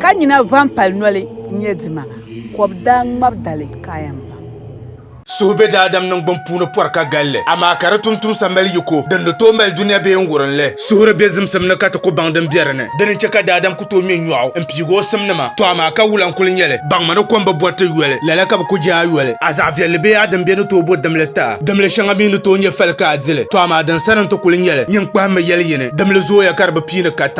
Ka nyina van pali noli n-nyɛ dima, kɔb daa ŋmab dali kaayam pam. Suhu be daadam niŋgbuŋ puuni pɔri ka gal li, amaa ka di tumtumsa mali yiko din ni tooi mali dunia bee n-wurim li. Suhu di be zimsim ni ka ti ku baŋ din be di ni. Di ni chɛ ka daadam ku tooi ŋme nyɔɣu m-piigi o simnima, tɔ amaa ka wula n-kul nyɛ li? Baŋmi ni kom bi bɔri ti yoli, lala ka bi ku je a yoli. A zaɣ viɛlli bee a dimbɛ ni tooi bo dimli ti a. Dimli shɛŋa mi ni tooi nyɛ fali ka a di li, tɔ amaa din sani n-ti kul nyɛ li. Nyin kpahimmi yɛli yi ni, dimli zooya ka di bi pii ni ka ta.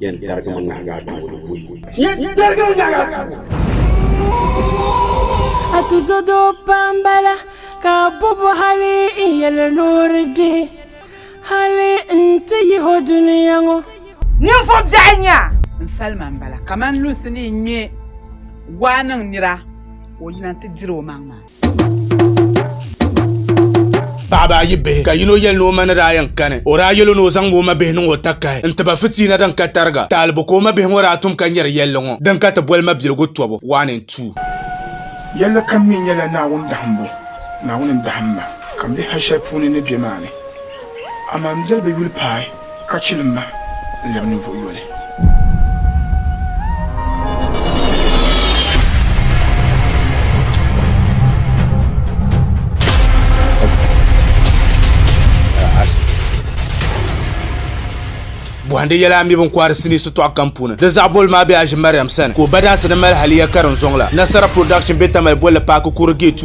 Yɛn tarigimi nahigu a tuubu di buyi. Yɛn tarigimi nahigu a tuubu. A ti zo doo pam bala ka a bobo hali n yɛli loori dihi hali n ti yihi o duniya ŋɔ. Ninvuɣ biɛɣu nya. N salima m-bala kaman lunsi ni yi ŋme waa niŋ nira ka o yina nti diri omaŋmaŋ. paɣaba ayi bihi ka yino yɛli ni o ma ni daa yɛn kani o daa yɛlo ni o zaŋ o ma bihi niŋ o takahi n tiba fitiina din ka tariga taalibu ka o ma bihi ŋɔ daa tum ka nyɛri yɛlli ŋɔ din ka ti boli mabiligu tɔbu one and two. Yɛlli kam mi nyɛla Naawuni dahimbu, Naawuni n-dahim ma ka m bihi ha shɛli puuni ni be maa ni. Amaa m biɛli bi yuli paai. Ka chili m ma n lɛbi ninvuɣ yoli. Bɔhindi yɛla a mi bin kɔhiri sinii sitɔɣu kam puuni. Di zaɣ boli maa be Aji Mariam sani ka o badansi ni mali haliya karinzoŋ la. Nasara Production be Tamale bolli paaki Kuri Gate.